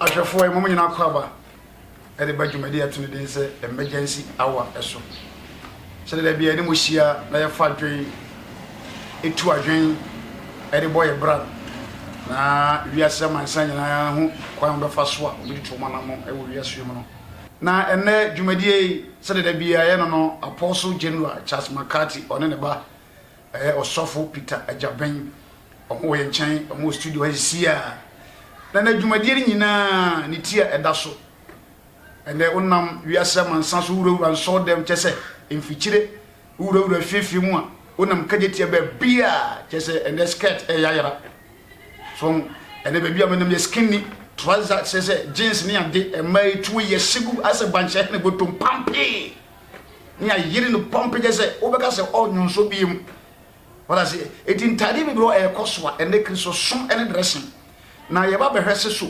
ahwɛfoɔ yi mo nyinaa kɔ aba ɛde ba dwumadi a ɛto ne din sɛ emergency hour ɛso sɛdeɛ da biara ne mo hyia na yɛfa adwen etu adwen ɛde bɔ yɛ bra na wiase amansan nyinaa ho kwan bɛfa so a obi tutu wɔn anamo ɛwɔ wiase yi mu no na ɛnɛ dwumadie yi sɛdeɛ da biara yɛ no no apostle general charles mccarthy ɔne ne ba Ɛyɛ Ɔsɔfo Peter Agyaben. Wɔwɔ yɛn nkyɛn, wɔwɔ studio ha seesei a, na n'adwumadie no nyinaa ne ti a ɛda so. Ɛnnɛ wonam wiase amansan so wurawura nsɔwdam, kyerɛ sɛ mfikyire, wurawura afiefie mu a, wonam kagyatia baabi a, kyerɛ sɛ ɛnnɛ skirt ɛyɛ ayera. So wɔn, ɛnnɛ baabi a menam yɛ skinny, trouser, kyerɛ sɛ jeans ne ade, mmaa etuo yɛ segu asɛ bankyɛ hene bɔtɔm pampee. ne ayere no pɔmpe kyɛ sɛ wobɛka sɛ ɔnyonso biem. Wata se eti ntade bebree hɔ ɛkɔ so a ɛnɛ Kristo som ne dressing na yɛba bɛhwɛ se so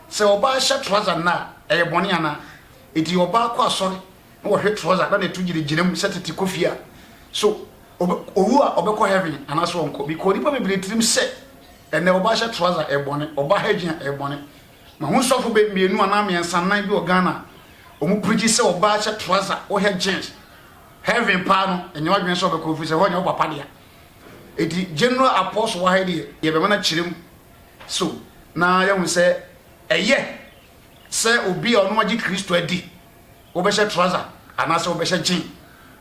sɛ ɔbaa hyɛ trouser nnɛ a ɛyɛ bɔne anaa. Eti ɔbaa kɔ asɔre na wɔhwɛ trouser na ne to gyina gyina mu sɛ tete kofie a so owu a ɔbɛkɔ heaven anaa se ɔnkɔ because nipa bebree tirim sɛ ɛnɛ ɔbaa hyɛ trouser ɛyɛ bɔne ɔbaa hyɛ jean ɛyɛ bɔne Mahu sɔfo bɛ mmienu anaa mmiɛnsa nnan bi wɔ Ghana a wɔn preachi sɛ ɔbaa hyɛ trouser wohyɛ jeans. Heaven paa no nyɛ w'adwene sɛ ɔbɛkɔ efiri sɛ hɔ nyɛ wo papa dea. Enti General Apostle wɔ ha yi deɛ yɛbɛma no akyire mu so na yɛahu sɛ ɛyɛ sɛ obi a ɔno agye Kristo adi wobɛhyɛ trouser anaasɛ wobɛhyɛ jean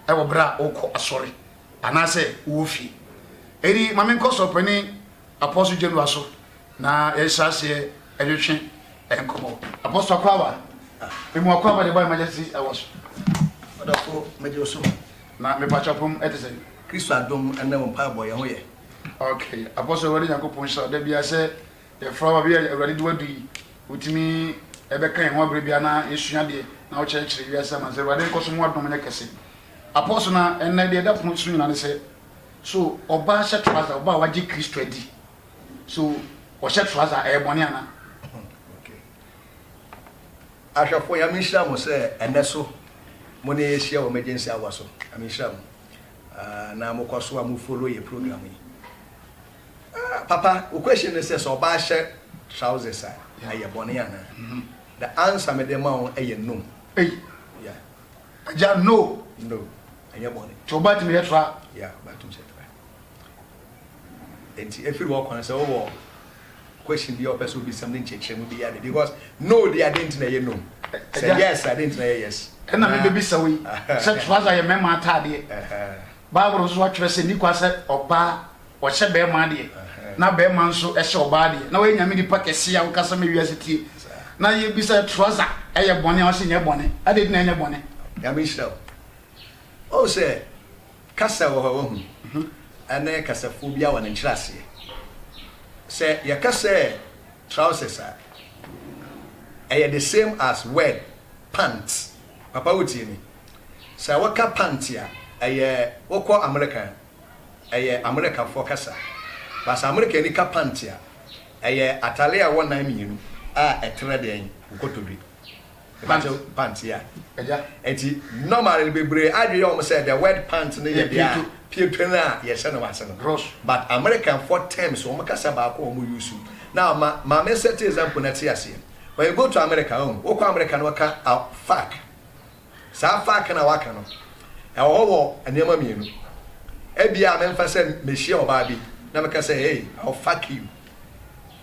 wɔ berɛ a wokɔ asɔre anaasɛ wowɔ fie. Eri ma menkɔ Sɔrepani Apostle General so Na yɛhyɛ aseɛ ɛtwetwe nkɔmɔ. Apostle Akwaba, me mu Akwaba de ba emergency ɛwɔ so. Ɔdɔfo mede wo so. Na me pakyɛ ɔpom ɛte sɛ. Kristo adom ɛne wo mpaebɔ yɛn ho yɛ. Ok Apostle Awurade Nyankopɔn nhyira wo da biara sɛ yɛfrɛ wo aba baabi a Awurade de wo adu yi wotumi ɛbɛka yɛn ho abrɛ biara na yɛsua adeɛ na wokyerɛkyerɛ wiase aman sɛ Awurade nkɔ so mo adom nyɛ kɛse. Apostle na ɛnnɛ deɛ ɛda pono so nyinaa ne sɛ so ɔbaa hyɛ trouser ɔbaa a wagye Kristo adi So wɔhyɛ trouser a ɛyɛ bɔne anaa? Okay. Ahwɛfo, Nyame nhyira mo sɛ ɛnnɛ so mo ne yɛ ahyia wɔ Emergency Hour so. Nyame nhyira mo. Ah, na mo kɔ so a mo follow yɛ program yi. Ah, papa, wo question ne sɛ sɛ ɔbaa hyɛ trousers a ɛyɛ bɔne anaa? Mm-hmm. The answer me de ma wo ɛyɛ no. Hey. Yeah. Agya no. No. Ɛnyɛ bɔne. Ti ɔbaa tumi yɛ tra? Yeah, ɔbaa tumi hyɛ tra. Enti ɛfiri hɔ kɔ no sɛ wowɔ question bi a ɔpɛ sɛ obisa mu ne nkyerɛkyerɛmu bi yɛ de because no deɛ adeɛ nti na ɛyɛ no sɛ yes adeɛ nti na ɛyɛ yes. Ɛna mebɛbisa wo yi sɛ trouser yɛ mmarima ataadeɛ bible nso atwerɛ sɛ nni kwa sɛ ɔbaa ɔhyɛ barima adeɛ na barima nso hyɛ ɔbaa adeɛ na woyɛ nyame nipa kɛseɛ a woka sɛ ma wiase tie na yɛbisa sɛ trouser ɛyɛ bɔne a wose nyɛ bɔne adɛn nti na ɛnyɛ bɔne. Nyame nhyira wo. Wohu sɛ Kasa wɔ hɔ, wahu, ɛne kasafoɔ biara wɔ ne nkyerɛaseɛ. Sɛ yɛka sɛ trousers a, ɛyɛ the same as word pant. Papa wotie me? Sɛ woka pant a, ɛyɛ, wokɔ Amerika a, ɛyɛ Amerikafoɔ kasa. But sɛ Amerikani ka pant a, ɛyɛ atadeɛ a ɛwɔ nan mmienu a ɛtrɛ deɛn, nkotodwe. Ebajo pant ya. Eja. Eti normally no bebree adwe yɛ wɔn sɛ the word pant no yɛ deɛ a pieto no a yɛhyɛ no ase no. Drɔs. But American fɔ terms wɔn kasa baako a wɔn use. Now ma maame nsɛte example na te aseɛ. When you go to America ahu wo kɔ America na wɔka a fuck. Saa fuck na waka no ɛwɔ hɔ wɔ nneɛma mmienu. Ebia menfa sɛ mehyia ɔbaa bi na meka sɛ hey I'll fuck you.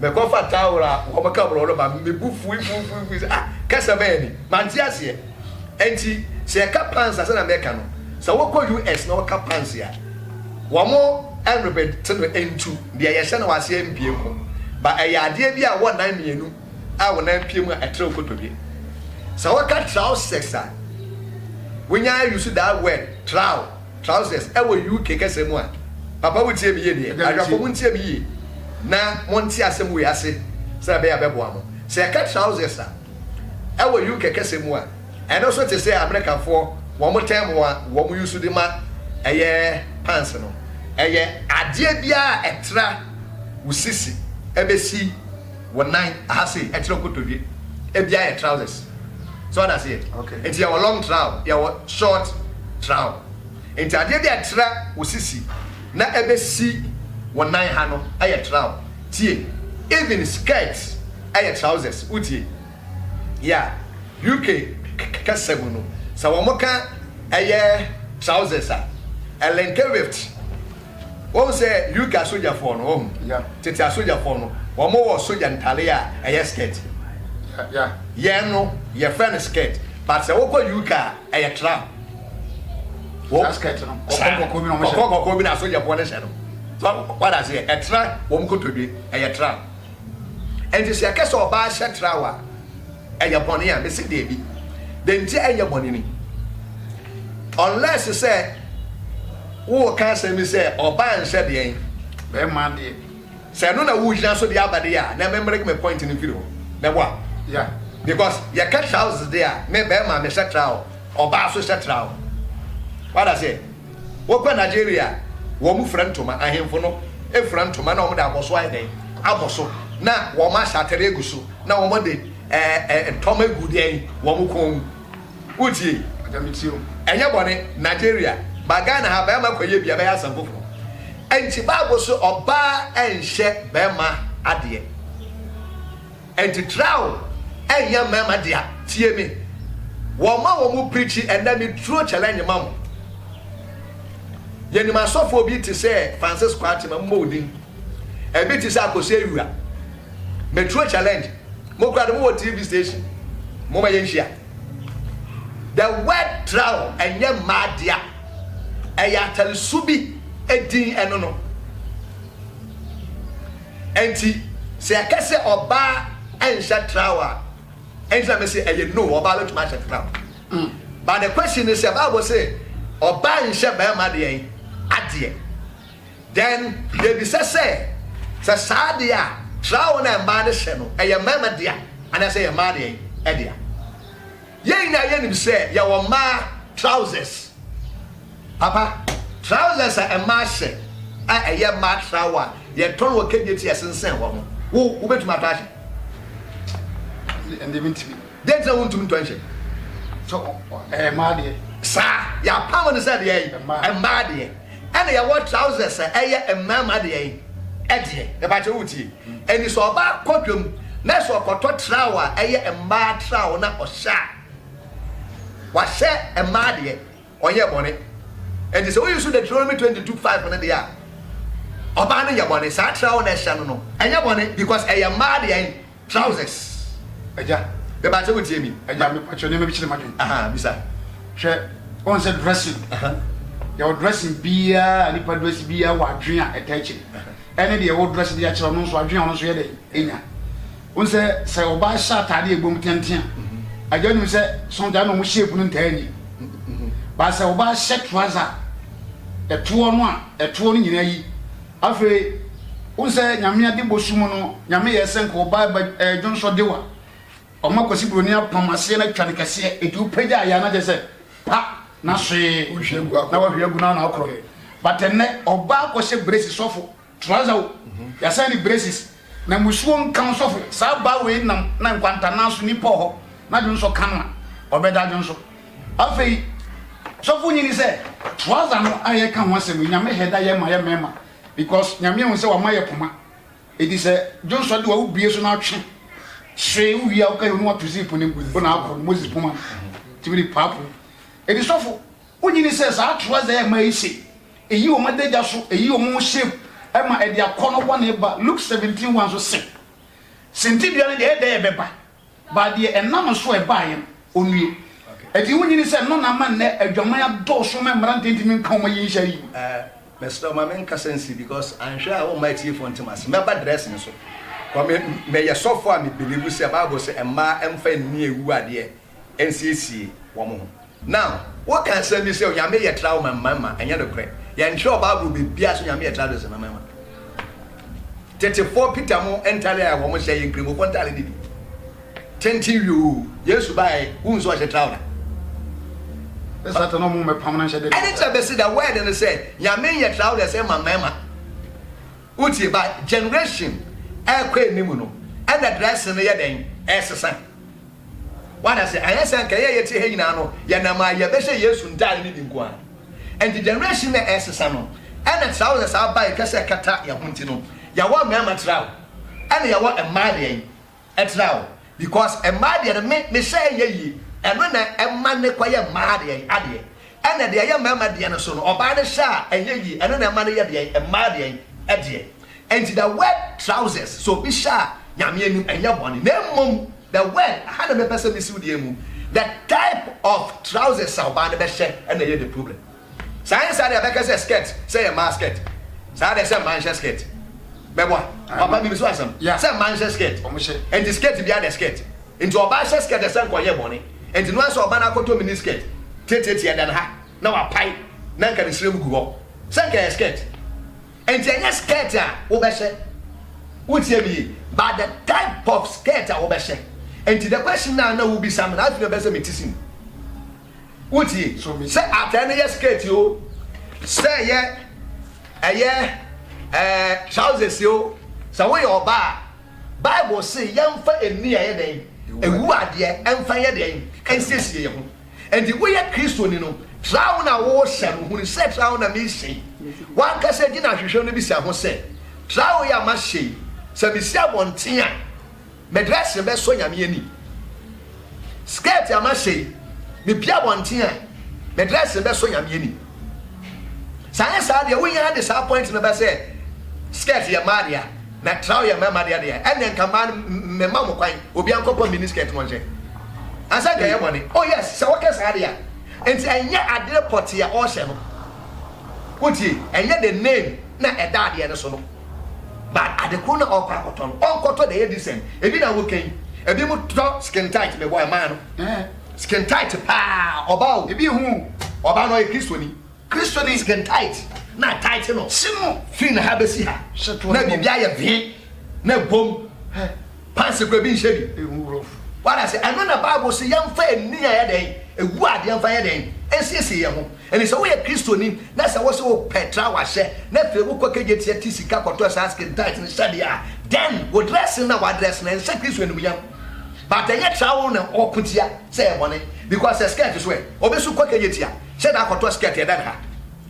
Mekɔfa towel a wɔka borɔw no ba, me bo fuui fuifuifui sɛ, ah, kasa bɛn ni? Mante aseɛ. Enti, sɛ yɛka pants a, sɛnea meka no, sɛ wokɔ US na woka pants a, wɔn nrebte no ntu, deɛ yɛhyɛ no aseɛ mpue nko. Ba ɛyɛ adeɛ bi a ɛwɔ nan mmienu a wo nan pue mu a ɛtrɛ wo kotodwe. Sɛ woka trousers a, wonya ayusu that word, trow. trousers wɔ UK kɛsɛ mu a papa wo tie me yie deɛ adwafo mo ntie me yie na mo nte asɛm wei ase sɛdeɛ ɛbɛyɛ a ɛbɛboa mo sɛ yɛka trousers a ɛwɔ UK kɛsɛ mu a ɛno nso te sɛ Amerikafoɔ wɔn term a wɔn use de ma ɛyɛ pants no ɛyɛ adeɛ biara a ɛtra wo sisi ɛbɛsi Wɔ nan ha sei ɛkyerɛ kotodwe ebi ayɛ trousers so ɔda seɛ okay nti yɛwɔ long trou yɛwɔ short trou nti adeɛ bi a ɛtra wo sisi na ɛbɛsi wɔ nan ha no ɛyɛ trou tie even skirt ɛyɛ trousers wotie yeah UK kasa mu no sɛ wɔn ka ɛyɛ trousers a ɛlenke rift. Wohu sɛ UK asogyafoɔ no, wohu, tete asogyafoɔ no, wɔwɔ sogya ntaareɛ a ɛyɛ skirt. Yɛn no, yɛfrɛ no skirt, but sɛ wokɔ UK a, ɛyɛ trap. Saa skirt no, kɔkɔɔ-kɔkɔɔ bi na wɔhyɛ. Kɔkɔɔ-kɔkɔɔ bi na asogyafoɔ no hyɛ no. So, wate aseɛ? Ɛtra wɔn kotodwe, ɛyɛ trap. Enti sɛ yɛka sɛ ɔbaa hyɛ traw a, ɛyɛ bɔne a? Mese dabi. Dɛn nti a ɛnyɛ bɔne ni? Unless sɛ woreka asɛm bi sɛ ɔbaa nhyɛ deɛn? Bɛrima adeɛ. Sɛ ɛno na wogyina so de aba deɛ a, na me make me point no mfiri hɔ. Mɛboa? Yeah. Because yɛka trousers deɛ a, me bɛrima mehyɛ traw, ɔbaa nso hyɛ traw. Wada aseɛ? Wokɔ Nigeria a, wɔn fira ntoma, ahemfo no fira ntoma na wɔde abɔso ayɛ dɛn? Abɔ so, na wɔn ahyɛ atare agu so, na wɔde ɛɛ ntɔma agu dɛn? Wɔn kɔn mu. Wotie? Agya me tie o. Ɛnyɛ bɔne, Nigeria, but Ghana ha barima kɔ yɛ bi a ɛbɛyɛ asɛm foforo. Ɛnti Bible se ɔbaa ɛnhyɛ barima adeɛ. Enti trao ɛnyɛ mmarima dea tie me wɔn ma wɔn mo preachi ɛnɛ me turo challenge ma mo yɛnim asɔfoɔ bi te sɛ Francis Kwartey ma mobɔ wo din ɛbi te sɛ Akosi Awura me turo challenge mo kora de mo wɔ TV station mo ma yɛn hyia the word trao ɛnyɛ mmaa dea ɛyɛ atare su bi ɛdin ɛno no Ɛnti sɛ yɛka sɛ ɔbaa ɛnhyɛ traw a, ɛnti na mese ɛyɛ no, ɔbaa bɛtumi ahyɛ traw. But the question ne sɛ bible se ɔbaa nhyɛ barima deɛn adeɛ. Then yɛbisa sɛ, sɛ saa deɛ a, traw no a mmaa no hyɛ no ɛyɛ mmarima dea anaasɛ ɛyɛ mmaa deɛn dea? Yɛn nyinaa yɛnim sɛ yɛwɔ mmaa trousers. Papa, trousers a mmaa hyɛ a ɛyɛ mmaa traw a yɛtɔn wɔ kedie ti ɛsensɛn hɔ no, wo wobɛtumi atɔ ahyɛ? Ɛnde mentumi. Dɛn nti na wontumi ntɔ nhyɛ? So ɛyɛ mmaa deɛ? Saa, yɛapam no sɛ deɛ ɛyɛ mmaa deɛ. Ɛna yɛwɔ trousers a ɛyɛ mmarima deɛ yi ɛdeɛ. Mepatwɛ wo tie. Ɛni sɛ ɔbaa kɔ dwam na sɛ ɔkɔtɔ trow a ɛyɛ mmaa trow na ɔhyɛ a, wahyɛ mmaa deɛ, ɔnyɛɛ bɔne. Ɛnti sɛ woyi so Deuteronomy 22 5 no deɛ a, ɔbaa no nyɛ bɔne. Saa trow na ɛhyɛ no no, ɛnyɛ bɔne because ɛyɛ mmaa deɛ yi. Trousers. Agya, me ba kyɛ wo tie me. Agya, me pakyɛ nneɛma bi kyere m'adwene. Aha, bisa. Hwɛ, wɔn sɛ dressing. Aha. Yɛwɔ dressing biara, nipa dressing biara wɔ adwene a ɛtaa kyere. Aha. Ɛne deɛ ɛwɔ dressing de akyerɛ ɔno nso adwene a ɔno nso yɛ dɛ enya. Wɔn sɛ sɛ ɔbaa hyɛ ataade a ebom tenten a, agya nim sɛ sɔntaa na wɔn shape no ntaa ni. Ba sɛ ɔbaa hyɛ trouser a ɛtoɔ no a, ɛtoɔ no nyinaa yi. Afei, wohu sɛ Nyame adebɔ su mu no, Nyame yɛɛ sɛ nka ɔbaa ɛba ɛɛ dwonsɔ dewa. Ɔma Kwasi Buroni apam aseɛ na atwa no kɛseɛ, enti wopagya ayɛ a na kyerɛ sɛ pa na soe na wahwie agu na na akorɔ. But ɛnnɛ, ɔbaa kɔhyɛ braces, sɔfo, trouser o, yɛasɛn no braces. Na mmusuo nka mo sɔfo, saa baa wei nam na nkwantanan so nnipa wɔ hɔ, na dwom so ka no a, ɔbɛda dwom so. Afei, sɔfo nyini sɛ, trouser no a yɛka ho asɛm yi, Nyame hɛ da yɛ ma yɛ mɛɛma, because Nyame ahu sɛ wama yɛ poma, eti sɛ dwom so de wa wo bue so na twe, hwee, wo wie a, wo ka yɛ wo na wa to zip no gu, wo na akɔ, Moses poma no, tumi de paapo, eti sɔfo, Wogye di sɛ saa trousers yi ma ese, eyi wɔn adagya so, eyi wɔn shape, ɛma ɛde akɔnnɔ bɔne ba. Luke seventeen one nso se, Sentidua no deɛ, ɛyɛ dɛ ɛbɛba, but deɛ ɛnam so a ɛbaeɛ no, ɔnnue. Enti wonnye nni sɛ nnɔnna ama nnɛ adwaman adɔɔso ma mmeranteɛ ntumi nka wɔn ayinhyia yi mu? Eh, mesrɛ wo ma me nkasa nsi because anhwɛ a womma atiefoɔ ntem ase. Mɛba dress no so. Kɔ me, meyɛ sɔfoɔ a me believe sɛ Bible se mmaa mfa nni awuo adeɛ nsiesie wɔn ho. Now wo ka asɛm bi sɛ onyame yɛ tra ma mmarima ɛnyɛ nokorɛ yɛn twerɛ wɔ bible bebia sɛ onyame yɛ tra dose ma mmarima tetefoɔ peter mo ntare a wɔn hyɛ yɛ nkremufoɔ ntare ne bi tenten wioo yesu baɛ wo nso ɔhyɛ tra ɔda ɛsɛ tɛ no mo mɛpam no nhyɛ dɛ ɛne kyɛ bɛsi da word no sɛ nyame yɛ tra ɔda sɛ ma mmarima wotie ba generation ɛkɔ anim no ɛna dressing no yɛ dɛn ɛsesa Wate aseɛ? Ayɛ sɛ anka yɛ a yɛte ha nyinaa no, yɛnam a yɛbɛhyɛ Yesu ntaade no bi nko ara. Enti generation no a ɛresesa no, ɛna trousers a aba a ɛtwa sɛ ɛkata yɛn ho nti no, yɛwɔ mmarima traw, ɛna yɛwɔ mmaa deɛn? Traw. Because mmaa deɛ no, me, mehyɛ ɛnyɛ yie. Ɛno na ɛma no kɔyɛ mmaa deɛn? Adeɛ. Ɛna deɛ ɛyɛ mmarima deɛ no so no ɔbaa no hyɛ a ɛnyɛ yie ɛno na ɛma no yɛ deɛn mmaa deɛn ɛdeɛ ɛnti the word trousers sɛ obi hyɛ a nyame anim ɛnyɛ bɔne na mmom the word ɛha na mepɛ sɛ mesiw deɛ mu the type of trousers a ɔbaa no bɛhyɛ ɛna ɛyɛ the problem saa ɛnyɛ saa deɛ ɛbɛka sɛ skirt sɛ yɛ mmaa skirt saa deɛ sɛ mmaa nhyɛ skirt bɛboa papa mi so asɛm sɛ mmaa nhyɛ skirt ɛnti skirt biara deɛ skirt ɛnti ɔbaa hyɛ skirt ɛsɛ nkɔyɛ bɔne Enti no ara sɛ ɔba no akɔtɔ mini skirt tiatiatia dan ha na wapae na anka ne srem gu hɔ sɛ anka ɛyɛ skirt. Enti ɛnyɛ skirt a wobɛhyɛ, wotie me yie, but the type of skirt a wobɛhyɛ. Enti the question a na wobisa me no, afei na ɛbɛyɛ sɛ mete se mu. Wotie? So me. Sɛ atae no yɛ skirt o, sɛ ɛyɛ ɛyɛ ɛɛ trousers o, sɛ woyɛ ɔbaa a, Bible se yɛmfa ani a ɛyɛ dɛn? Ewu adeɛ mfa nyɛ deɛn? Nsiesie yɛn ho. Enti woyɛ Kristoni no, tra wo na worehyɛ no, hunu sɛ tra wo na merehyɛ yi. W'ankasa gyina ahwehwɛ no bisa ho sɛ, Tra wo yi a mahyɛ yi, sɛ mesi abɔnten a, me dressing bɛsɔ Nyame ani? Skirt a mahyɛ yi, mepue abɔnten a, me dressing bɛsɔ Nyame ani? Sɛ anyɛ saa deɛ, wo nyaa de saa point no bɛ sɛ skirt yɛ mmaa dea na traw yɛ mmarima dea deɛ, ɛnneɛ nka mmaa no mema mo kwan, obiara nkɔtɔ mini skirt mmɔ nhyɛ ansa nka ɛyɛ bɔne. Oh yes, sɛ woka saa deɛ a, enti ɛnyɛ adeɛ pɔtee a ɔrehyɛ no, wotie, ɛnyɛ the name na ɛda adeɛ no so no, but ade koro na ɔrekɔ akɔtɔ no, ɔnkɔtɔ deɛ ɛyɛ decent. Ebi na woka yi, ebinom tɔ skin tight, meboa mmaa no. Skin tight paa ɔbaa o. Ebi ehu o ɔbaa no ɔyɛ kristoni. Kristoni. Skin tight na atight no. Hye no. Firi ne ha besi ha. Hye to. Na biribi ayɛ vee na ebom hɛ. Pants kura ebi nhyɛ bi. Ehu rough. Wate ase ɛno na bible se yɛnfa ani a ɛyɛ dɛn ewu adeɛ ɛnfa nyɛ dɛn ɛnsiesie yɛn ho ɛni sɛ woyɛ kristoni na sɛ wose wopɛ trawa hyɛ na afei wokɔ kegye teɛ te sika kɔtɔ saa skin tight no hyɛ deɛ a then wo dressing na wadress no ɛnhyɛ kristo animuonyam. But ɛnyɛ travel na ɔko tia sɛ ɛyɛ bɔne because sɛ skirt so ɛ, ɔbɛsu kɔ Kenya tia sɛ na akɔtɔ skirt ɛda ne ha,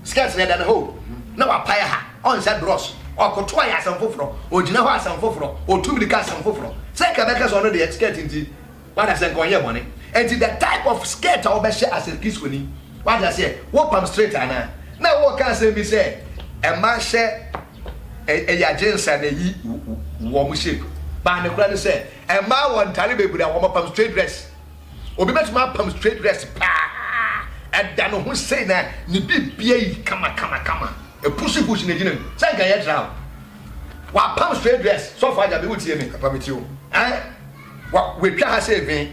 skirt na ɛda ne ha o, na wapae ha, ɔnhyɛ drɔs, ɔkoto ayɛ asɛm foforɔ, ɔgyina hɔ asɛm foforɔ, ɔtu mirika asɛm foforɔ, sɛ nka ɛbɛka sɛ ɔno deɛ skirt nti wate aseɛ nka ɔnyɛɛ bɔne, ɛnti the type of skirt a wobɛhyɛ as a Kristoni wate aseɛ, wopam straight anaa? Na wɔɔka asɛm bi sɛ mmaa hyɛ ɛya gye nsa na eyi wɔn shape. But anekora ne sɛ mmaa wɔ ntare bebree a wɔpam straight dress. Obi bɛtumi apam straight dress paa ɛda ne ho sei na ne biribi ayi kamakamakama pussy bush na egyina mu sɛ nka ɛyɛ tra o. Wapam straight dress, sɔfo Agyabi wotie me? Papa metie o. Ɛn, watwa ha sei vee.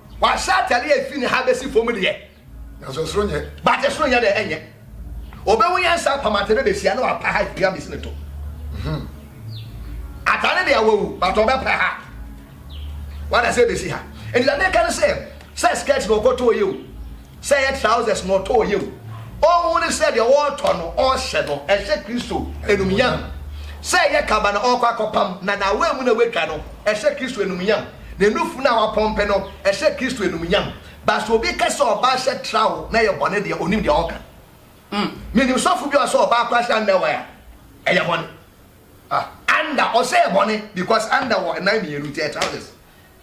Wahyɛ atare a efi ne ha besi fam deɛ. Nanso ɛsoro nyɛ. But ɛsoro nyɛ dɛ ɛnyɛ. Obehu nyansa apam atare besia na wapa ha apia besi ne to. Hmm. Atare deɛ wawu but ɔbɛpa ha. Wada sɛ ebesi ha. Enti na meka no sɛ sɛ skirt na ɔkɔtɔ yɛ o. Sɛ ɛyɛ trousers na ɔtɔ ɔyɛ o, ɔnhu no sɛ deɛ ɔretɔ no ɔrehyɛ no ɛhyɛ Kristo animuonyam. Sɛ ɛyɛ kaba na ɔrekɔ akɔpam na n'awan mu na watwa no ɛhyɛ Kristo animuonyam. N'anufunu a wapɔmpe no ɛhyɛ Kristo animuonyam. But sɛ obi ka sɛ ɔbaa hyɛ trawo na ɛyɛ bɔne deɛ ɔnim deɛ ɔreka. Umm menim sɔfo bi a ɔsɛ ɔbaa koraa hyɛ underwear a, ɛyɛ bɔne. Ah, under ɔsɛ ɛyɛ bɔne because under wɔ nan mmienu nti ɛyɛ trousers.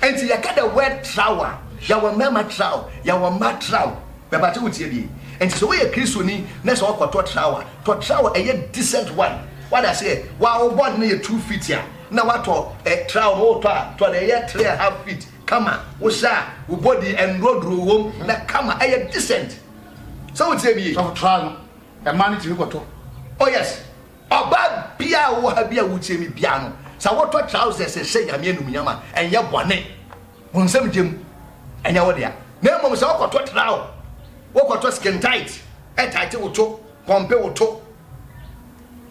Enti yɛka the word traw a, yɛwɔ mmarima traw, yɛwɔ mma traw. Mɛpa sɛ wotie bi. Enti sɛ woyɛ Kristoni na sɛ wokɔtɔ traw a, tɔ traw a ɛyɛ decent one. Wate aseɛ? Wa wo bɔɔd no yɛ two feet a, na woatɔ ɛ, traw no wotɔ a, tɔ deɛ ɛyɛ three and half feet kama. Wohyɛ a, wo body yi ɛndurɔdurɔ wom na kama, ɛyɛ decent. Sɛ wotie bi. Sɔfo, traw no, mmaa no tumi kɔtɔ? Oh yes. Ɔbaa biaa a wɔ ha bi a wotie me biaa no sɛ wotɔ trousers hyɛ Nyame anumunyam a ɛnyɛ bɔne wo nsam gye mu ɛnyɛ wo dea na mmom sɛ wokɔtɔ trao wokɔtɔ skin tight ɛtight wo to pɔmpe wo to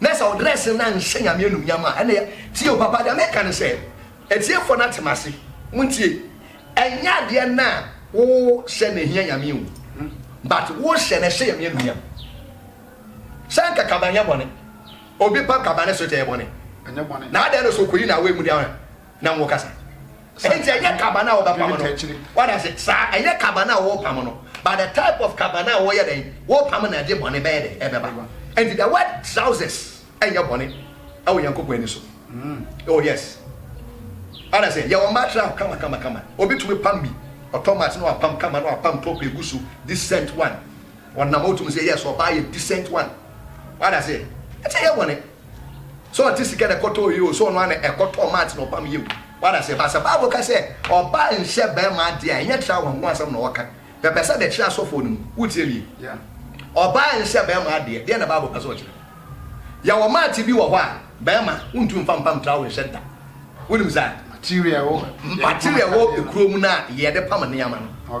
na sɛ wo dress no anhyɛ Nyame anumunyam a ɛnɛ tie o papa deɛ meka ne sɛ atiefoɔ no atem ase montie ɛnyɛ adeɛ no a wo hyɛ na ɛhia Nyame o but wo hyɛ na ɛhyɛ Nyame anumunyam Sɛ anka kaba nyɛ bɔne, obi pam kaba no so kyɛ yɛ bɔne? Ɛnyɛ bɔne. Na adɛn na sɛ okoyi n'awɔe mu deɛ na mo kasa? Enti ɛnyɛ kaba no a wɔbɛpam no. Wada ase? Saa, ɛnyɛ kaba no a wɔpam no, but the type of kaba no a wɔyɛ dɛn? Wɔpam na ɛde bɔne bɛyɛ dɛn? Ɛbɛba. Enti the word trousers ɛnyɛ bɔne ɛwɔ Nyankopɔn ani so. Oh yes. Wada ase? Yɛwɔ mmaa trousers kama kama kama. Obi tumi pam bi, ɔtɔ mat na wapam kama na wapam top egu so, decent one. Wɔn na wɔtumi sɛ yes ɔbaa yɛ decent one wate aseɛ ɛti ɛyɛ bɔne sɛ ɔte sika na ɛkɔtɔɔ yɛ o sɛ ɔno ana ɛkɔtɔɔ mat na ɔpam yɛ o wate aseɛ but sɛ bible ka sɛ ɔbaa nhyɛ bɛɛma adeɛ a ɛnyɛ tra wɔn ho asɛm na ɔka pɛpɛ sɛ dɛkyerɛ asɔfoɔ no mu wotie wie ɔbaa nhyɛ bɛɛma adeɛ deɛ na bible ka sɛ ɔkyerɛ yɛwɔ mat bi wɔ hɔ a bɛɛma wontu mfa mpam tra wɔn nhyɛ nta wonim saa material wɔ ekuro mu no a yɛde pam nneɛma no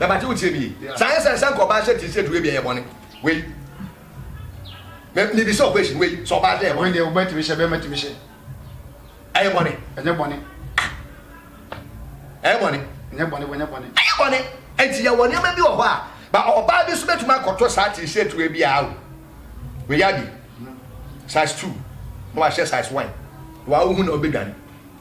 Na mate wo tie me yie. Saa yɛsɛ sɛ nka ɔbaa hyɛ tiri sɛ duo abien yɛ bɔne wei me me bisa question wei sɛ ɔbaa hyɛ yɛ bɔne. Wei deɛ ɔbaa tumi hyɛ bɛrima tumi hyɛ. Ɛyɛ bɔne. Ɛnyɛ bɔne. Ɛyɛ bɔne. Ɛnyɛ bɔne ɛnyɛ bɔne. Ɛyɛ bɔne. Ɛnti yɛ wɔ nneɛma bi wɔ hɔ a ba ɔbaa bi so bɛtumi akɔtɔ saa tiri sɛ duo bi a o wei adi size two na wahyɛ size one wɔ a wohu na ɔbɛdwane.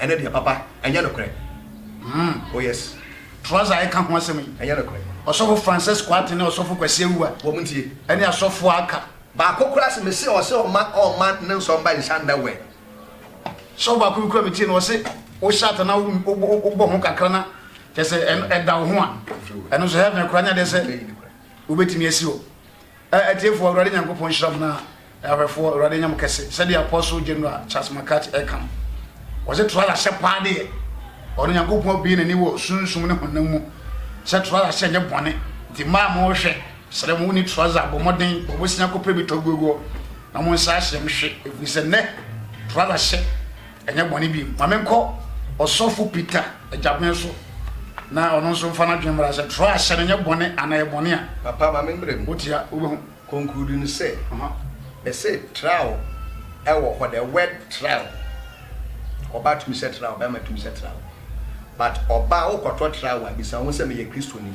Ɛnɛ deɛ papa ɛnyɛ nokorɛ. Umm oh yes trouser a ɛka ho asɛm yi ɛnyɛ nokorɛ. Ɔsɔfo Frances Kwarteng ne Ɔsɔfo Kwasi Awuwa wɔn ntie ɛne asɔfoɔ a aka. Baako koraa se mese ɔse ɔmma ɔmma ne nsa ɔmba nhyɛ underwear. Sɔfo baako bi koraa metie no ɔse wo hyɛ ata na wo bɔ ho kakra na kyɛsɛ ɛda wo ho a ɛno nso heaven koraa nyɛ adeɛ sɛ wobɛtumi asi hɔ. Atiefoɔ, Awurade Nyankopɔn nhyira mo na Ahwɛfoɔ, Awurade nyɛ mo kɛse, sɛdeɛ Apostle General Charles McCarthy ɛka no. Ɔse Trial ahyɛ paa deɛ, ɔno Nyankopɔn abue n'ani wɔ sunsum ne honam mu sɛ Trial ahyɛ nyɛ bɔne. Nti mmaa a mohwɛ, mesrɛ mo wonni trouser a, bɔ mmɔden, bɔ bosia kɔpɛ bi tɔ guaguɔ na mo nsa ahyeɛ nhwe, ɛfiri sɛ nnɛ Trial ahyɛ Ɛnyɛ bɔne bio. Ma menkɔ Ɔsɔfo Peter Agyaben so na ɔno nso mfa n'adwene mmra sɛ Troy ahyɛ no nyɛ bɔne anaa ɛyɛ bɔne a. Papa, ma memmrɛ mu. Wote a, wobɛhu. Conclude no sɛ, Mese Troy wɔ hɔ, the word Troy, ɔbaa tumi sɛ Troy, ɔbarima tumi sɛ Troy. But ɔbaa a wokɔtɔ Troy a, bisa wo ho sɛ, Meyɛ Kristoni?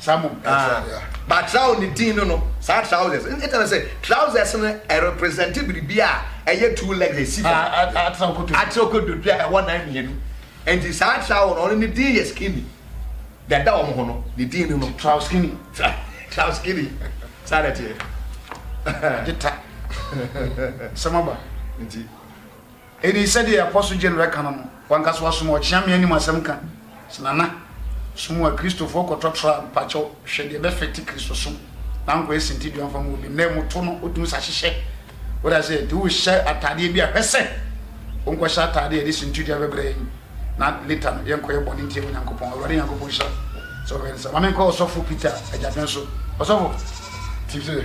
Samu ɛsɛ ya. Ba traw ne din no no saa trousers n ɛtɛnɛ sɛ trousers no ɛrepresent biribi a ɛyɛ two legs ɛsi fam. A a atraw koto. Atraw koto bi a ɛwɔ nan mmienu nti saa traw no ɔno ne din yɛ skinny deɛ ɛda wɔn ho no ne din no no. Traw skinny. Tra traw skinny saa na ɛteɛ. Ade ta sɛm aba. Nti. Eni sɛdeɛ Apostle Jane bɛka no no, wanka so asom a ɔkyea me anim asɛm ka sɛ Nana, som a Kristofoɔ kɔtɔ tra a mpakyɛw hwɛ deɛ ɛbɛfɛte Kristosom na anko ɛsen ti dua mfa ma obi. Nnɛ moto no wotumi sa hyehyɛ. What does it? Wohyɛ ataadeɛ bi a hwɛ sɛ wonkɔhyɛ ataadeɛ a yɛde sen ti dua bɛbrɛ yɛn na later no yɛnkɔyɛ bɔne ntia Onyankopɔn. Awurade Nyankopɔn nhyira wo sɛ wobɛyɛ no saa. Ma menkɔ ɔsɔfo Peter Agyapɛn so. Ɔsɔfo! Ti sɛ.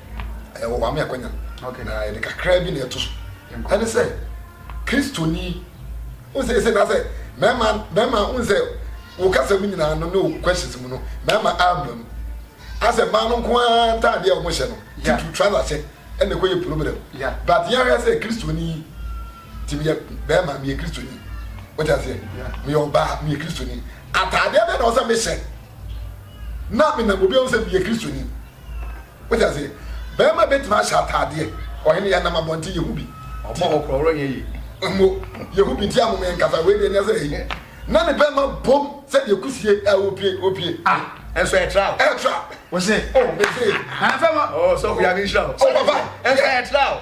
ɛwɔ wɔ ame akwanya na yɛde kakra bi na ɛto so ɛne sɛ kristoni wo sɛ ɛsɛ na sɛ mɛma mɛma wo sɛ wo kasa mu nyinaa no ne wo questions mu no mɛma abla mu asɛ mmaa no nko ara ntaadeɛ a wɔhyɛ no titiri trouser hyɛ ɛna ɛkɔ yɛ problem but yɛhwɛ sɛ kristoni tìmí yɛ bɛrima mi yɛ kristoni o ti aseɛ mi yɛ ɔbaa mi yɛ kristoni ataadeɛ bɛ na ɔsɛ mi hyɛ na mi na obi ɔsɛ mi yɛ kristoni. Wote aseɛ? Bɛɛma bɛtumi ahyɛ ataadeɛ. Ɔhene yɛnam abɔnten yɛhu bi. Ɔma wɔ korɔkorɔ nyɛ yie. Mmo yɛhu bi nti a moma yɛnkasa wei deɛ nyɛ sɛ ɛyi na ne bɛɛma bom sɛdeɛ kusie a opie opie. Ah ɛnso ɛtra o. Ɛtra. Wose. Oh mese. Ɛnfɛma. Oh sɔfo yame nhyira o. Oh papa. Ɛnso ɛtra o.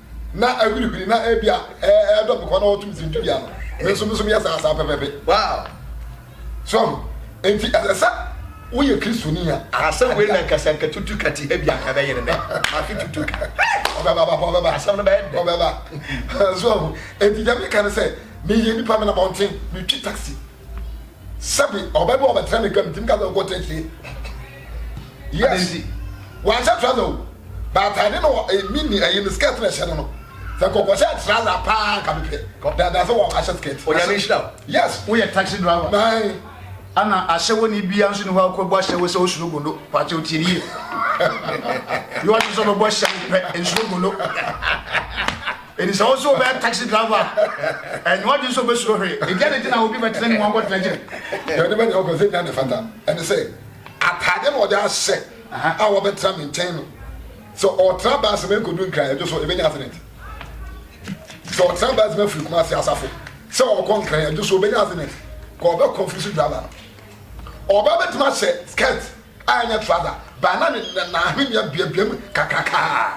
na ahwirihwiri na ebia ɛdɔ bepɔ na wɔto nsi nto dua no me nso me nso meyɛ saa saa pɛpɛpɛ wow so nti ɛsɛ sɛ woyɛ kristoni a asɛm wei na nkasa nka tutu ka ti ebi anka bɛyɛ ne bɛ afi tutu ka ɔbɛba papa ɔbɛba asɛm no bɛyɛ ɔbɛba so nti gyame ka ne sɛ meyɛ nipa me na bɔnten metwi taxi Sɛbi ɔbɛ bi ɔbɛtena ne kam timi ka sɛ ɔkɔ tɛkyie. Yes, wanhyɛ trouser o, but ataade no eh, mini ɛyi no skirt na ɛhyɛ no no. Sɛ kɔkɔhyɛ trouser paa nka mepɛ. Da da sɛ wɔ ahyɛ skirt. Onyame nhyira wo. Yes. Woyɛ taxi driver. Ae. Ana ahyɛwo ni bia nso ni hɔ akɔ bɔ ahyɛwo sɛ osuro gondo. Pakyɛ otie yie. Yɛ ɔte sɛ ɔbɛbɔ ahyɛwo pɛ nsuro gondo. Enti sɛ wo nso wobɛyɛ taxi driver a, ɛnyɛ w'adwene sɛ wobɛsuro hwee. Ɛdeɛn nti na obi bɛtene ne ho akɔtena gyem? Deɛ ɔde bɛnya nkwa, sɛ nya ne fata, ɛne sɛ ataadeɛ na ɔde ahyɛ a wɔbɛtra me nkyɛn no. Sɛ ɔtra bus ma ɛkɔdu Nkran a, ɛdwo so ɛbɛnya accident. Sɛ ɔtra bus ma firi Kumasi Asafo sɛ ɔkɔ Nkran a, ɛdwo so ɔbɛnya accident. Ka ɔbɛ confuse driver no. Ɔbaa bɛtumi ahyɛ skirt a ɛnyɛ trouser, baa na ne n'ahweneɛ biabiam kakrakaa.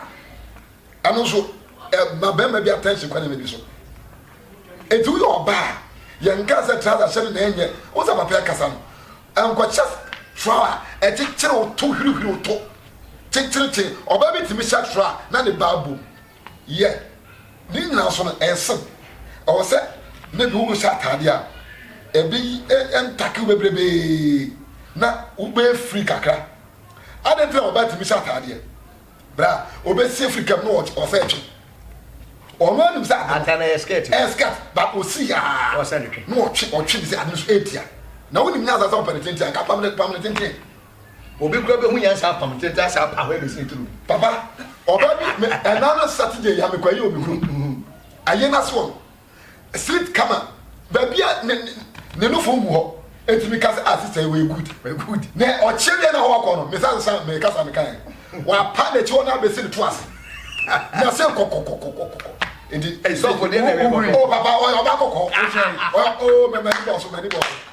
Ɛno nso, ɛma barima bi attention kɔ nneɛma bi so. Enti woyɛ ɔbaa a, yɛnkaa sɛ trouser hyɛ no na ɛnyɛ wo sɛ papa ɛkasa no. Nkɔkyɛ fra a ɛkyekyere wo to, hwirihwiri wo to, kyekyerekye. Ɔbaa bi tumi hyɛ fra na ne ba abom. Yɛ ne nyinaa so no, ɛsen. Ɛwɔ sɛ na bi wobɛhyɛ ataadeɛ a ɛbɛ yi ntake wo bebrebee na wobɛyɛ free kakra. Adɛn nti na ɔbaa tumi hyɛ ataadeɛ? Bra obesi afiri kɛm no ɔt ɔsɛ twe. Ɔno anim sɛ ade Ata no ɛyɛ skirt o. ɛyɛ skirt but osi yaa Ɔsɛ no twe. na ɔtwe ɔtwe ne sɛ ade no so etia. Na wonim nyansa sɛ ɔpɛ ne tenten a nka pam ne pam ne tenten. Obi koraa bɛhu nyansa apam ne tenten asɛ apa hɔ abesi ne tiri mu. Papa ɔbaa bi me ɛna no Saturday yi a mekɔ ayi wɔ me kunu ayenasoɔ no. Sleep kama baabi a ne ne nofo ngu hɔ enti meka sɛ ah sister yi wɔyɛ good wɔyɛ good na ɔkyerɛ deɛ na hɔ ɔkɔ no mesan san meka sa meka yɛ wapa n'akyi hɔ no abɛsi ne to ase na sɛ kɔkɔkɔkɔkɔkɔ enti sɔfo deɛ na ɛbɛkɔ o papa ɔyɛ ɔba kɔkɔ ɔyɛ o mɛmɛ ne bɔso mɛne bɔso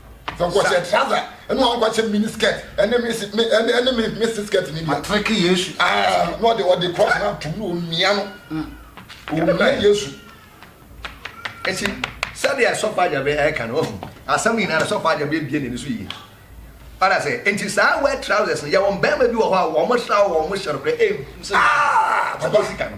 Fɛkɔsɛ trouser ɛna wɔn kɔsɛ mini skirt ɛne misi ɛne ɛne mi misi skirt ni bi. Atriki Yesu. Aa na ɔde ɔde cross na atum na omia no. Omia Yesu. Esi sɛdeɛ sɔfo agyabe ɛka no ɔhu asɛm nyinaa no sɔfo agyabe ebie n'ani so yie. Ɔda sɛ nti saa wear trousers no yɛ wɔn bɛrima bi wɔ hɔ a wɔn tra wɔn hyɛ no kora ɛnfu sɛ aa sɛ bɔ sika no.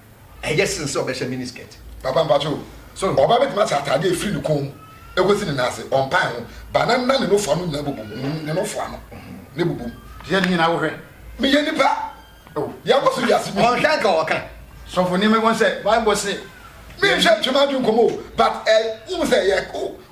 ɛyɛ sen sɛ ɔbɛhyɛ mini skirt. Papa mpakyɛw o, so ɔbaa bɛtumi ahyɛ ataade a ɛfiri ne kɔn mu kɔsi ne nan ase, ɔmpae ho, banana na ne nofo ano nyinaa bobom, ne nofo ano na ɛbobom. Yɛn nyinaa wo hwɛ. Me yɛ nipa oh, yɛn kɔ so wiase bi. Ɔnhwɛ anka ɔka. Sɔfo nneɛma wɔn sɛ, Bible se. Me nhwɛ ntwema adwene nkɔmɔ o, but eh, wohu sɛ yɛ oh,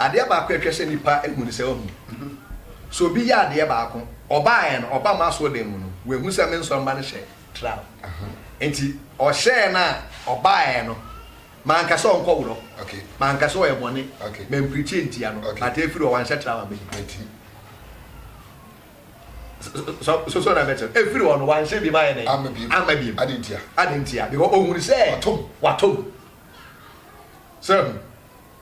Adeɛ baako a ɛtwɛ sɛ nipa hu ne sɛ wahu. Sɛ obi yɛ adeɛ baako, ɔbaeɛ no, ɔba m'asoɔdan mu no, wahu sɛ me nsɔmma no hyɛ tram. Enti ɔhyɛɛ no a ɔbaeɛ no, manka sɛ ɔnkɔ worɔ, manka sɛ ɔyɛ bɔne, mampreache ntia no, but ɛfiri hɔ wanhyɛ tram ammɛdi dwuma. So so na bɛte no? Ɛfiri hɔ no wanhyɛ biom ayɛ dɛn? Amma biom. Amma biom. Adɛn ntia? Adɛn ntia? Because ɔhunu sɛ. Watom. Watom. Sɛ ahu.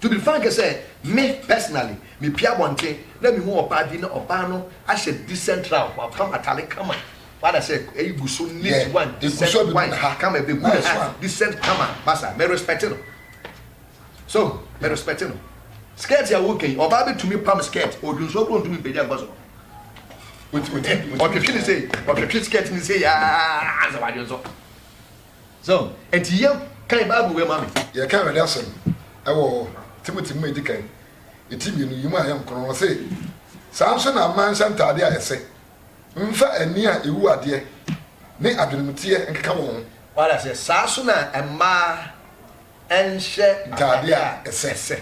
To be frank sɛ me personally me pue abɔnten na me hu ɔbaa bi na ɔbaa no ahyɛ decent round wapam atare kama wada sɛ ɛyi gu so neat one decent one kama ɛbɛ gu ha decent kama basa me respect no so me respect no skirt a woka yi ɔbaa bɛ tumi pam skirt odwonso kuro ntumi mpagya nkɔ so ɔtwetwe ne sei ɔtwetwe skirt ne sei aa ansa wadwonso. So, enti yɛ kan Bible wei ma me. Yɛ kan Awurade asɛm ɛwɔ Timothy mu a edi kan, eti mmienu yi mu a yɛ nkono. Ɔse, Saa nso na mma nhyɛ ntaade a ɛsɛ, mfa ani a ewu adeɛ ne adwenemteɛ nkeka wɔn ho. Wate aseɛ? Saa nso na mmaa. nhyɛ ntaadeɛ a ɛsɛ,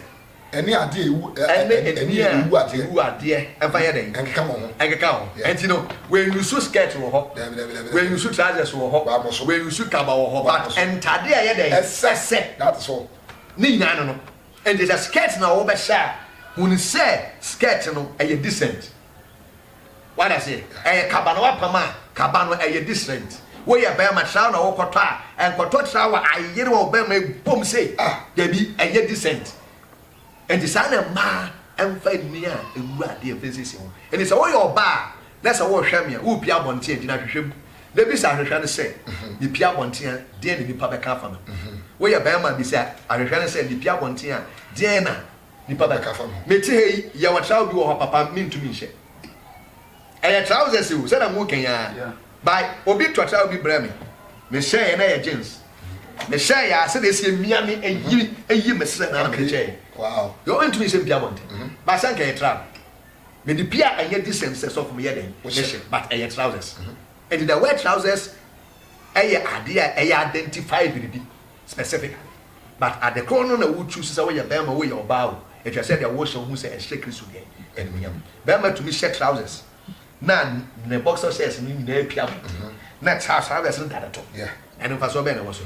ɛne adeɛ a ɛwu ɛne ɛne ɛwu adeɛ ɛwu adeɛ ɛmfa yɛ dɛn ɛnkeka wɔn ho ɛnkeka wɔn ho ɛnti no wɔnyusu skirt wɔ hɔ dɛbi dɛbi dɛbi wɔnyusu trousers wɔ hɔ baako so wɔnyusu kaba wɔ hɔ baako so ntaadeɛ a ɛyɛ dɛn ɛsɛ ɛsɛ that so ne nyinaa no no ɛnti sɛ skirt na wɔbɛhyɛ a huni sɛ skirt no ɛyɛ decent. Wate aseɛ? Ɛyɛ kaba na wapam a, kaba no ɛyɛ different. Woyɛ barima trawa na wokɔtɔ a, ɛnkɔtɔ trawa a ayere wɔ wo barima ɛbom sei ah dabi, ɛnyɛ decent. Nti saa na mmaa ɛmfa nni a ɛngu adeɛ ɛmfa nsiesie ho. Nti sɛ woyɛ ɔbaa a na sɛ worehwɛ me a, worepie abɔnten a gyina hwehwɛ mu na bisa ahwehwɛ no sɛ, mepie abɔnten a deɛn na nnipa bɛka afa me ho? Woyɛ barima a bisa ahwehwɛ no sɛ, mepie abɔnten a deɛn na Nipa bɛka fa me ho. Mete ha yi, yaw atraw bi wɔ hɔ a papa mintumi nhyɛ. Ɛyɛ trousers o, sɛnea moreka yi ara. By, obi tɔ atraw bi brɛɛ me. Mehyɛeɛ na ɛyɛ jeans. Mehyɛeɛ ara, sɛnea ɛsi amia me, ayiri, ayi me serɛ no ara na mede hyɛeɛ. Yɔɔ, mentumi nhyɛ mpia abɔnten. But sɛ anka ɛyɛ tra a, mede pia a ɛnyɛ decent sɛ sɔfo meyɛ dɛn? Mehyɛ. But ɛyɛ trousers. Enti the word trousers yɛ adeɛ a ɛyɛ identify biribi. specific but ade koro no na wo choose sɛ wo yɛ bɛɛma wo yɛ ɔbaa o ɛkyerɛ sɛ deɛ wo hyɛ ohu sɛ ɛhyɛ kristo deɛ animuonyam bɛɛma tumi hyɛ trousers na ne boxer shirts no nyinaa atwa ho mhm. na saa trousers no da ne to ɛne mfa so bɛɛ na wɔ so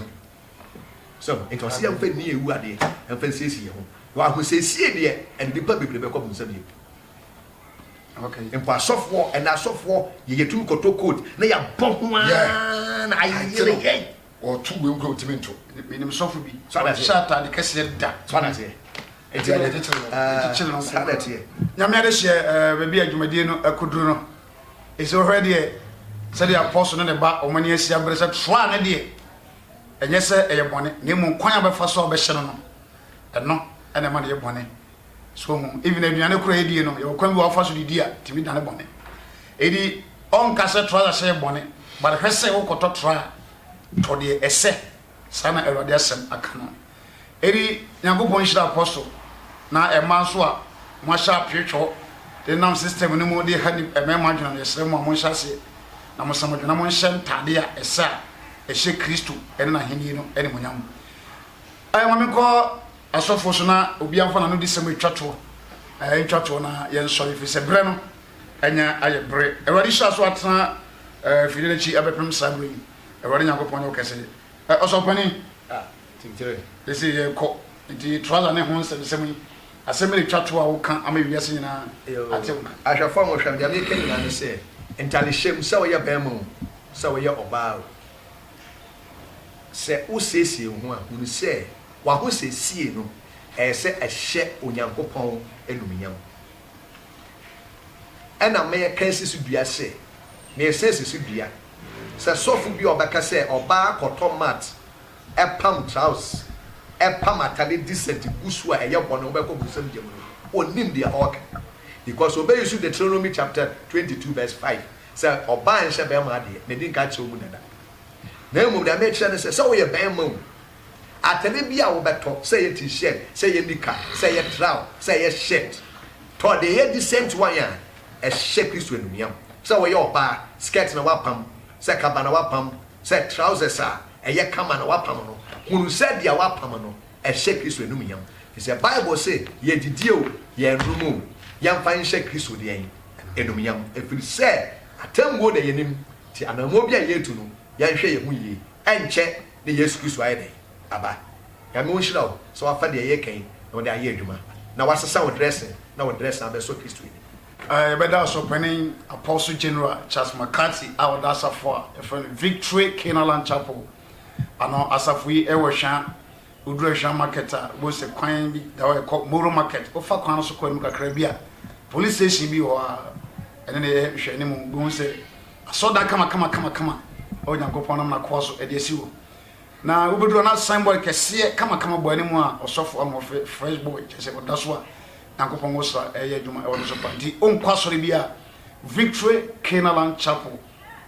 so nti ɔsɛ yɛmfa nni ɛwu adeɛ ɛmfa nsiesie yɛ ho wɔ ahosiesie deɛ ɛne nipa bebree bɛkɔ mu nsɛm yɛ mpo asɔfoɔ ɛna asɔfoɔ yɛyɛtumi kɔtɔ coat na yɛabɔ ho a na ayere yɛn Ɔɔto wei nkura ɔntumi nto. Menim sɔfo bi ɔnhyɛ ataade kɛseɛ da. So ate aseɛ? Nti deɛ ɛkyekyere no ɛkyekyere no nko. Saa na ɛteɛ. Nyame adehyeɛ ɛɛ baabi a dwumadie no akɔduru no ɛsɛ wohwɛ deɛ sɛdeɛ apɔso no ne ba wɔn ani asi abere sɛ toa no deɛ ɛnyɛ sɛ ɛyɛ bɔne na mmom kwan a wɔbɛfa so a wɔbɛhyɛ no no ɛno ɛna ɛma no yɛ bɔne. So ohu? Even aduane koro a yɛdie no, yɛwɔ kwan bi a wɔfa so de di a ɛtumi dane bɔne. Enti ɔnka sɛ trouser hyɛ yɛ bɔne, but hwɛ sɛ wokɔtɔ tra a, tɔ deɛ ɛsɛ, saa na Awurade asɛm aka no. Enti Nyankopɔn nhyira Apostle na ɛmaa nso a moahyɛ aperetwɔ de nam system no mu de ha nip mmarima adwene no, yɛsrɛ mo a monhyɛ aseɛ na monsa modwene na monhyɛ ntaadeɛ a ɛsɛ a ɛhyɛ Kristo ne N'ahennie no animuonyam. Ɛɛ ma menkɔ. asɔfo so na obiara mfa n'anodisɛm ntwa toɔ. Ɛɛ, ntwa toɔ na yɛnsɔre ɛfiri sɛ berɛ no anya ayɛ berɛ. Awurade hyira so atena ɛɛ fidie no akyi abɛpem saa berɛ yi. Awurade Nyankopɔn ne wo kɛse. Ɛ Ɔsɔfopanin, ah, tinkyerɛ, yɛse yɛrekɔ nti trouser ne ho nsɛmnsɛm yi, asɛm retwa toɔ a woka ama wiase nyinaa ate wo nka. Ahwɛfoɔ a mohwɛ no, deɛ meka nyinaa ne sɛ, ntadehyɛ mu, sɛ woyɛ barima o, sɛ woyɛ ɔbaa o, Sɛ wosiesie wo ho a, hunu sɛ w'ahosiesie no, ɛyɛ sɛ ɛhyɛ Onyankopɔn anuonyam. Ɛna meka asi so dua sɛ, mesa asi so dua sɛ sɔfo bi a ɔbɛka sɛ ɔbaa kɔtɔ mat, pam traos, pam atade decent gu so a ɛyɛ bɔne, wobɛkɔ bonsam gya mu no, onnim deɛ ɔreka. Because obeyi so Deuteronomy chapter twenty two verse five, sɛ ɔbaa nhyɛ bɛrima adeɛ, medi nka akyerɛ wo mu dada. Na mmom deɛ mekyerɛ ne sɛ, sɛ woyɛ bɛrima o, atade biara a wobɛtɔ, sɛ ɛyɛ t-shirt, sɛ ɛyɛ nika, sɛ ɛyɛ trou, sɛ ɛyɛ shirt, tɔ deɛ ɛyɛ decent one a ɛhyɛ Kristo animuonyam. Sɛ woyɛ ɔbaa, skirt na woapam, sɛ kaba na woapam, sɛ trousers a ɛyɛ kama na woapam no, hunu sɛ deɛ woapam no, Ɛhyɛ Kristo anumunyam. Efisɛ Bible se, Yɛdidie o, yɛnnom o, yɛmfa nhyɛ Kristo deɛn? Anumunyam. Ɛfiri sɛ atɛmmuo da yɛn anim, nti anammuo biara a yɛretu no, yɛnhwɛ yɛn ho yie. Ɛnkyɛ na Yesu Kristo ayɛ dɛn? Aba. Nyame ɔnhyira wo sɛ woafa deɛ yɛreka yi na wode ayɛ adwuma, na woasesa wo dressing na wo dressing abɛsɔ Kristo ani. Yɛbɛda Ɔsɔpanin Apostle General Charles McCarthy a ɔda asafo a yɛfrɛ no Victory Canaanland Chapel Ano asafo yi wɔ Hwa, woduru Hwa market a wobɛhu sɛ kwan bi da hɔ a ɛkɔ Moro market. Wofa kwan no so kɔ anim kakra bi a police station bi wɔ hɔ a ɛne no yɛ nhwɛanim. Wobɛhu sɛ asɔrdan kamakamakamakama a Onyankopɔn nam n'akoa so de asi hɔ. Na wobɛduru hɔ na signboard kɛseɛ kamakama bɔ anim a ɔsɔfo ama wɔfrɛ fresh boy kyerɛ sɛ ɔda so a Nyankopɔn nwosra reyɛ adwuma wɔ ne so paa. Nti wonkɔ asɔre biara Victory Canaanland Chapel.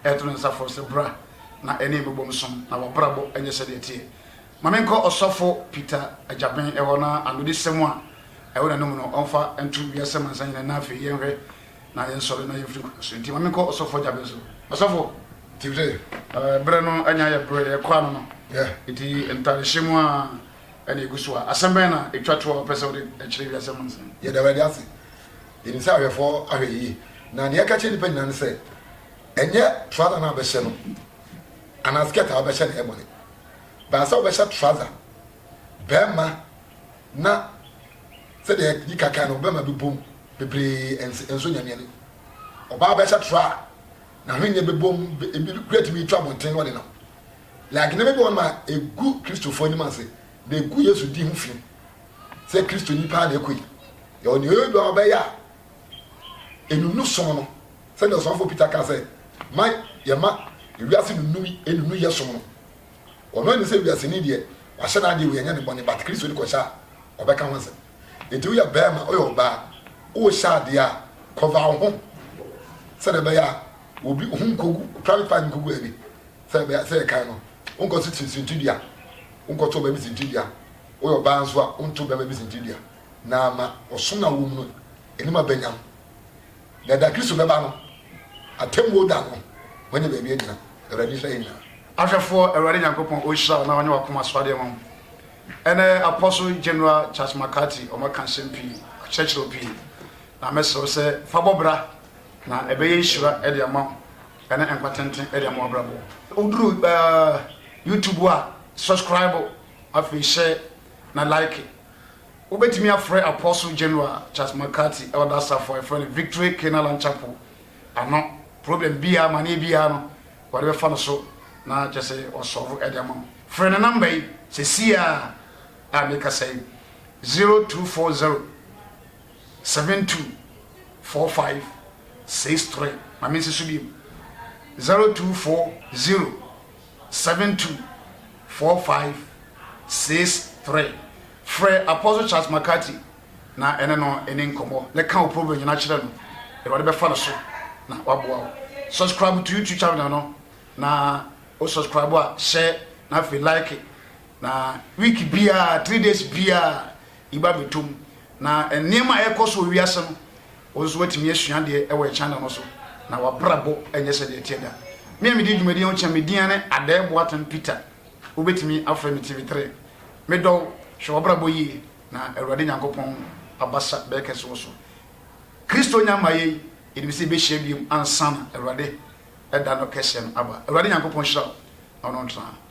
ɛto ne nsa frɛ wo sɛ bra na ɛne yɛn bɛbom som na w'abrabɔ nyɛ sɛdeɛ ɛteɛ. Ma menkɔ ɔsɔfo Peter Agyaben hɔ na anodesɛm a ɛwɔ n'anom no ɔmfa nto wiase amansan nyinaa na afei yɛnhwɛ na yɛnsɔre na yɛmfiri nkonnwa so. Enti ma menkɔ ɔsɔfo Agyaben so. Ɔsɔfo! Tirim sɛ berɛ no anya yɛ berɛ, yɛrekɔ ano no nti ntadehyɛ mu ara na yɛgu so a, asɛm bɛn na ɛtwa to a wopɛ sɛ wode kyerɛ wiase amansan? Yɛda Awurade ase Yenim sɛ awɛmfoɔ ahwɛ yie, na deɛ yɛka kyerɛ nnipa nyinaa ne sɛ, ɛnyɛ trouser no a wobɛhyɛ no anaa skirt a wobɛhyɛ na ɛyɛ bɔne, but sɛ wobɛhyɛ trouser barima na sɛdeɛ yɛdi ka kan no barima bɛbom bebree nso Nyame ani. Ɔbaa bɛhyɛ tra a, n'ahweneɛ bɛbom, ebi kura tumi twa abɔnten na ɔde nam. Like nneɛma bi wɔ hɔ nom a ɛgu Kristofoɔ anim ase na egu Yesu din ho fi sɛ Kristoni paa na ɛkɔ yi. Yɛwɔ nea ɔyɛ dua a ɔbɛyɛ a enunu som no, sɛnea ɔsomafo Peter kaa sɛ, Ma yɛmma wiase nunum yi nnunu yɛn som no. Ɔno ani sɛ wiaseni deɛ, wahyɛ n'adeɛ wei, ɛnyɛ ne bɔne, but Kristoni kɔhyɛ a, ɔbɛka ho asɛm. Enti woyɛ barima, woyɛ ɔbaa, worehyɛ adeɛ a, cover wo ho sɛnea ɛbɛyɛ a obi ho nkogu, wo private part nkogu, ɛne. sɛ bɛ sɛ kan no wonkɔ so si suntidua, wonkɔto baabi suntidua, woyɛ ɔbaa nso a wonto bɛma bi suntidua, na ma ɔsom a wom no anim abɛnyam, na da Kristo bɛba no, atemmuo da no, moanya baabi agyina. Awurade nhyira yɛn nyinaa. Ahwɛfoɔ, Awurade Nyankopɔn ɔnhyira wo na ɔnyɛ w'akoma so adeɛ ma wo. Ɛnɛ Apostle General Charles McCarthy ɔma ka nsɛm pii, ɔkyerɛkyerɛw pii, na mɛsrɛ wo sɛ fa bɔ bra na ɛbɛyɛ nhyira de ama wo. Ɛne nkwa tenten ɛde ama wabrabɔ. Woduru YouTube a subscribe afei hyɛ na like. Wobɛtumi afrɛ Apostle General Charles McCarthy ɛwɔ Dasafoɔ a yɛfrɛ no Victory Canaanland Chapel ano. Problem biara, amaneɛ biara no wɔde bɛfa no so na kyerɛ sɛ wɔsɔɔvo ɛde ama wo. Frɛ ne number yi sɛsiaa a mekasa yi, 0240. seven two four five six three ma mensi so bio zero two four zero seven two four five six three frɛ Apostle Charles McCarthy na ɛne no ɛni nkɔmmɔ na ka wo problem nyinaa kyerɛ no Awurade bɛfa no so na waboa wo subscribe to YouTube channel no na o subscribe a hyɛ na afei like na week biara three days biara yi ba bɛtɔ mu, na nneɛma a ɛrekɔ so wɔ wiase no, wo nso woatumi asua adeɛ wɔ yɛn channel no so, na w'abrabɔ nyɛ sɛdeɛ ɛteɛ da. Me a medi dwumadie ho kyɛ, me din ne Adair Boateng Peter, wobɛtumi afrɛ me TV3. Medɔ wo, hwɛ w'abrabɔ yie, na Awurade Nyankopɔn abasa bɛyɛ kɛse wo so. Kristo nya mmaeɛ yi, yɛnim sɛ yɛbɛhyia bio ansa na Awurade da no kɛseɛ no aba. Awurade Nyankopɔn nhyira wo, na ɔno ntena